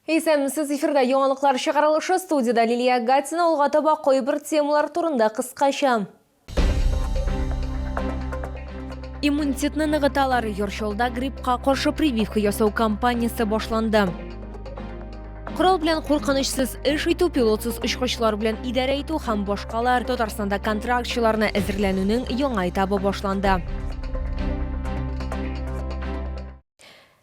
Исәнмесез, эфирда яңалыклар чыгарылышы, студиядә Лилия Агатина, алга таба кайбер темалар турында кыскача. Иммунитетны ныгыталар, Йорчолда гриппка каршы прививка ясау кампаниясе башланды. Корал белән куркынычсыз эш итү, пилотсыз очкычлар белән идарә итү һәм башкалар Татарстанда контрактчыларны әзерләнүнең яңа этабы башланды.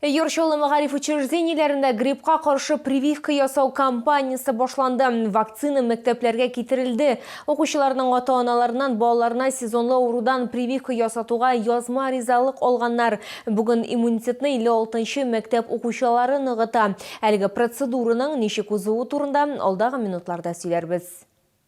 Өер Чаллы мәгариф учреждениеләрендә гриппка каршы прививка ясау кампаниясе башланды. Вакцина мәктәпләргә китерелде. Укучыларның ата-аналарыннан балаларына сезонлы авырудан прививка ясатуга язма ризалык алганнар. Бүген иммунитетны 56 нчы мәктәп укучылары ныгыта. Әлеге процедураның ничек узуы турында алдагы минутларда сөйләрбез.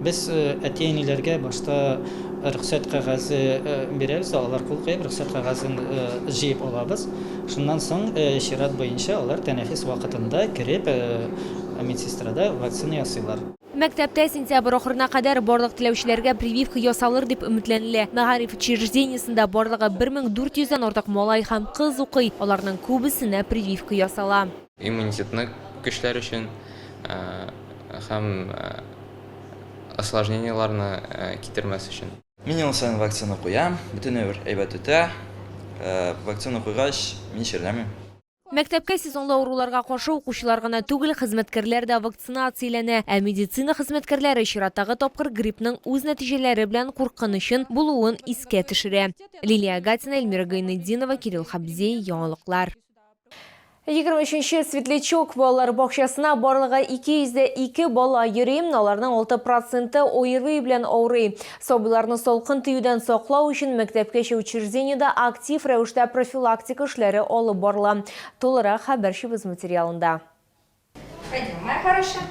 Без әти-әниләргә башта рөхсәт кәгазе бирәбез, алар кул куеп, рөхсәт кәгазен җыеп алабыз. Шуннан соң чират буенча алар тәнәфес вакытында кереп, медсестрада вакцина ясыйлар. Мәктәптә сентябрь ахырына кадәр барлык теләүчеләргә прививка ясалыр дип өметләнелә. Мәгариф учреждениесендә барлыгы 1400 дән артык малай һәм кыз укый, аларның күбесенә прививка ясала. Иммунитетны көчләр өчен һәм осложнениеларны китермәс өчен. Мин ел саен вакцина куям, бөтенләй бер әйбәт үтә. Вакцина куйгач, мин чирләмим. Мәктәпкә сезонлы авыруларга каршы укучылар гына түгел, хезмәткәрләр дә вакцинацияләнә. Ә медицина хезмәткәрләре чираттагы тапкыр гриппның үз нәтиҗәләре белән куркынычын булуын искә төшерә. Лилия Агатина, Эльмира Гайнетдинова, Кирилл Хабзей, яңалыклар. Егерме өченче Светлячок балалар бакчасына барлыгы 202 бала йөри, аларның 6 проценты ОРВИ белән авырый. Сабыйларны салкын тиюдән саклау өчен мәктәпкәчә учреждениедә актив рәвештә профилактика эшләре алып барыла. Тулырак хәбәрчебез материалында. Пойдем, моя хорошая.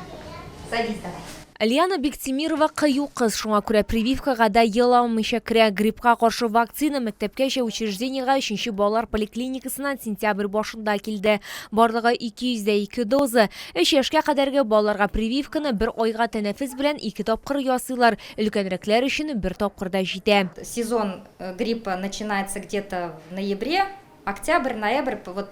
Садись давай. Лиана Бектимирова кыю кыз, шуңа күрә прививкага да ел алмыйча керә. Гриппка каршы вакцина мәктәпкәчә учреждениегә 3 балалар поликлиникасыннан сентябрь башында килде. Барлыгы 202 доза. 3 яшькә кадәрге балаларга прививканы бер айга тәнәфес белән ике тапкыр ясыйлар, өлкәнрәкләр өчен бер тапкыр да җитә. Сезон э, гриппа начинается где-то в ноябре, октябрь, ноябрь, вот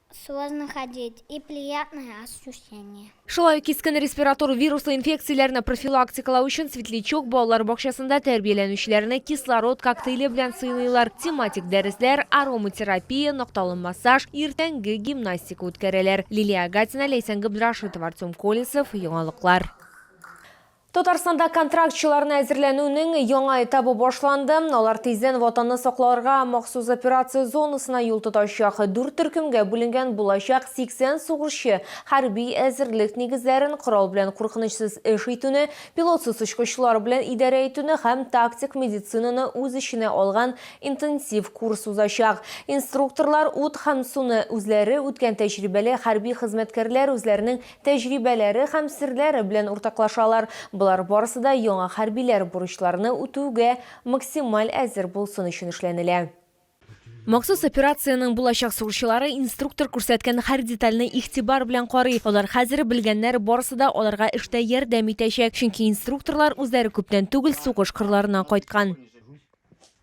Сложно ходить и приятное ощущение. Шулай ук кискен респиратор вируслы инфекцияләрне профилактикалау өчен Светлячок балалар бакчасында тәрбияләнүчеләрне кислород коктейле белән сыйлыйлар. Тематик дәресләр, ароматерапия, нокталы массаж, иртәнге гимнастика үткәрәләр. Лилия Агатина, Ләйсән Габдрашитова, Артем Колесов, Яңалыклар. Татарстанда контрактчыларны әзерләнүнең яңа этабы башланды. Алар тиздән Ватанны сакларга махсус операция зонасына юл тотачак. Дүрт төркемгә бүленгән булачак 80 сугышчы хәрби әзерлек нигезләрен, корал белән куркынычсыз эш итүне, пилотсыз очкычлар белән идарә итүне һәм тактик медицинаны үз эченә алган интенсив курс узачак. Инструкторлар ут һәм суны үзләре үткән тәҗрибәле хәрби хезмәткәрләр үзләренең тәҗрибәләре һәм серләре белән уртаклашалар, болар барысы да яңа хәрбиләр бурычларны үтүгә максималь әзер булсын өчен эшләнелә. Махсус операциянең булачак сугышчылары инструктор күрсәткән һәр детальне игътибар белән карый, алар хәзер белгәннәр, барысы да аларга эштә ярдәм итәчәк, чөнки инструкторлар үзләре күптән түгел сугыш кырларыннан кайткан.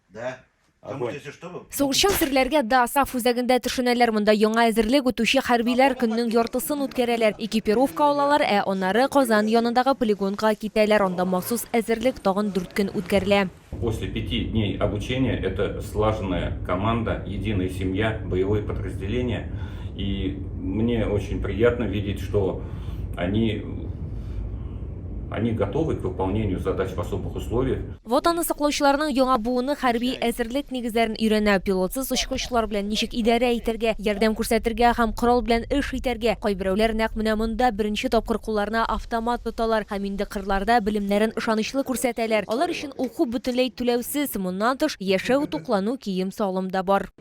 Да. Огонь. Там что был? Сугышчан серләргә да саф үзәгендә төшенәләр. Монда яңа әзерлек үтүче хәрбиләр көннең яртысын үткәрәләр. Экипировка алалар, ә аннары Казан янындагы полигонга китәләр. Анда махсус әзерлек тагын дүрт көн үткәрелә. После пяти дней обучения это слаженная команда, единая семья, боевое подразделение. И мне очень приятно видеть, что они, они готовы к выполнению задач в особых условиях. Ватанны саклаучыларның яңа буыны хәрби әзерлек нигезләрен өйрәнә, пилотсыз очкычлар белән ничек идарә итәргә, ярдәм күрсәтергә һәм корал белән эш итәргә. Кайберәүләр нәкъ менә монда беренче тапкыр кулларына автомат тоталар һәм инде кырларда белемнәрен ышанычлы күрсәтәләр. Алар өчен уку бөтенләй түләүсез, моннан тыш, яшәү, туклану, кием-салым да бар.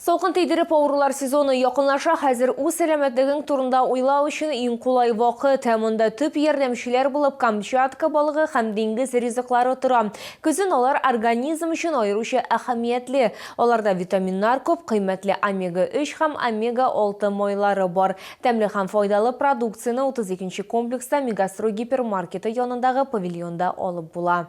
Салкын тидереп авырулар сезоны якынлаша, хәзер үз сәламәтлегең турында уйлау өчен иң кулай вакыт. Ә монда төп ярдәмчеләр булып Камчатка балыгы һәм диңгез ризыклары тора. Көзен алар организм өчен аеруча әһәмиятле. Аларда витаминнар күп, кыйммәтле омега-3 һәм омега-6 майлары бар. Тәмле һәм файдалы продукцияне 32 нче комплекста Мегастрой гипермаркеты янындагы павильонда алып була.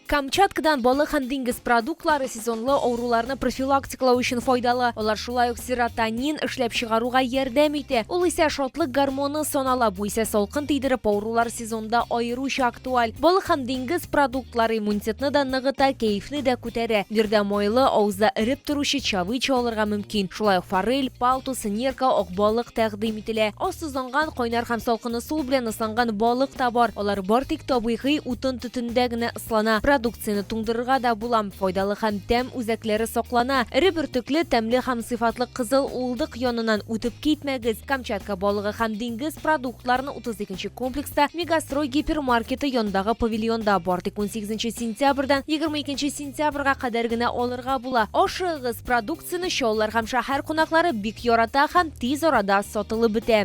Камчаткадан балык һәм диңгез продуктлары сезонлы авыруларны профилактикалау өчен файдалы. Алар шулай ук серотонин эшләп чыгаруга ярдәм итә, ул исә шатлык гормоны санала, бу исә салкын тидереп авырулар сезонда аеруча актуаль. Балык һәм диңгез продуктлары иммунитетны да ныгыта, кәефне дә күтәрә. Биредә майлы, авызда эреп торучы чавыча алырга мөмкин. Шулай ук форель, палтус, нерка, акбалык тәкъдим ителә. Аз тозланган, кайнар һәм салкын ысул белән ысланган балык та бар. Алар бар тик табигый утын-төтендә генә ыслана. Продукцияне туңдырырга да була. Файдалы һәм тәм үзәкләре саклана. Эре бөртекле, тәмле һәм сыйфатлы кызыл уылдык яныннан үтеп китмәгез. Камчатка балыгы һәм диңгез продуктларын 32 Кече комплекста Мегастрой гипермаркеты янындагы павильонда бар. Тик 18 сентябрьдән 22 сентябрьгә кадәр генә алырга була. Ашыгыгыз, продукцияне чаллылар һәм шәһәр кунаклары бик ярата һәм тиз арада сатылып бетә.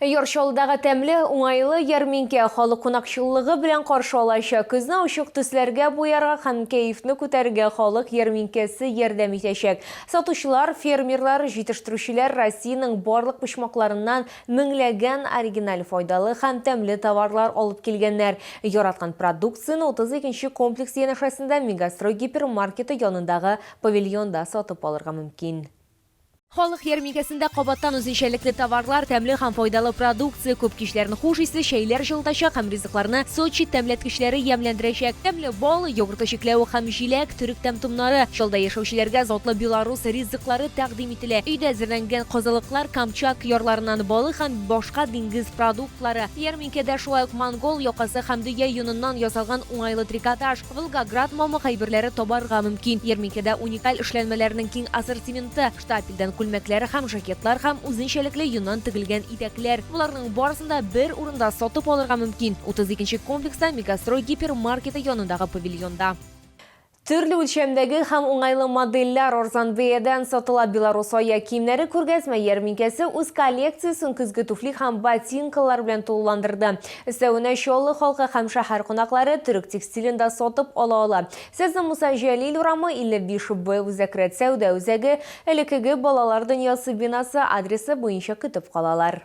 Яр Чаллыдагы тәмле, уңайлы ярминкә халык кунакчыллыгы белән каршы алачак. Көзне ачык төсләргә буярга һәм кәефне күтәрергә халык ярминкәсе ярдәм итәчәк. Сатучылар, фермерлар, җитештерүчеләр Россиянең барлык почмакларыннан Меңләгән оригиналь, файдалы һәм тәмле товарлар алып килгәннәр. Яраткан продукцияне 32 нче комплекс янәшәсендә Мегастрой гипермаркеты янындагы павильонда сатып алырга мөмкин. Халык ярминкәсендә кабаттан үзенчәлекле товарлар, тәмле һәм файдалы продукция күп, кичләрен хуш исле чәйләр җылытачак һәм ризыкларны Сочи тәмләткечләре ямьләндерәчәк. Тәмле бал, йогыртлы чикләвек һәм җиләк, төрек тәм-томнары, чалда яшәүчеләргә затлы белорус ризыклары тәкъдим ителәчәк. ителә. Өйдә әзерләнгән козылыклар, Камчак ярларыннан балык һәм башка диңгез продуктлары, ярминкәдә шулай ук монгол якасы һәм дөя йоныннан ясалган уңайлы трикотаж, Волгоград мамык әйберләре табарга мөмкин. Ярминкәдә уникаль эшләнмәләрнең киң ассортименты, штапельдән күлмәкләр һәм жакетлар һәм үзенчәлекле йоннан тегелгән итәкләр. Боларның барысын да бер урында сатып алырга мөмкин, 32 нче комплекста, Мегастрой гипермаркеты янындагы павильонда. Төрле үлчәмдәге һәм уңайлы модельләр арзан бәядән сатыла Беларусь аяк киемнәре күргәзмә ярминкәсе үз коллекциясен көзге туфли һәм ботинкалар белән тулыландырды. Өстәвенә Чаллы халкы һәм шәһәр кунаклары төрек текстилен дә сатып ала ала. Сезне Муса Җәлил урамы, 55 Б Үзәк рәт сәүдә үзәге, элеккеге Балалар дөньясы бинасы адресы буенча көтеп калалар.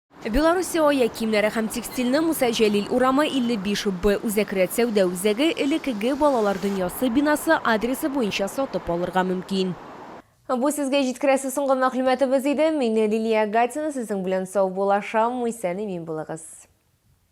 Белоруссия аяк киемнәре һәм текстильне Муса Җәлил урамы, 55 Б үзәк рәт сәүдә үзәге, элеккеге Балалар дөньясы бинасы, адресы буенча сатып алырга мөмкин. Бу сезгә җиткерәсе соңгы мәгълүматыбыз иде. Мин Лилия Гатина, сезнең белән сау булашам, исән-имин булыгыз.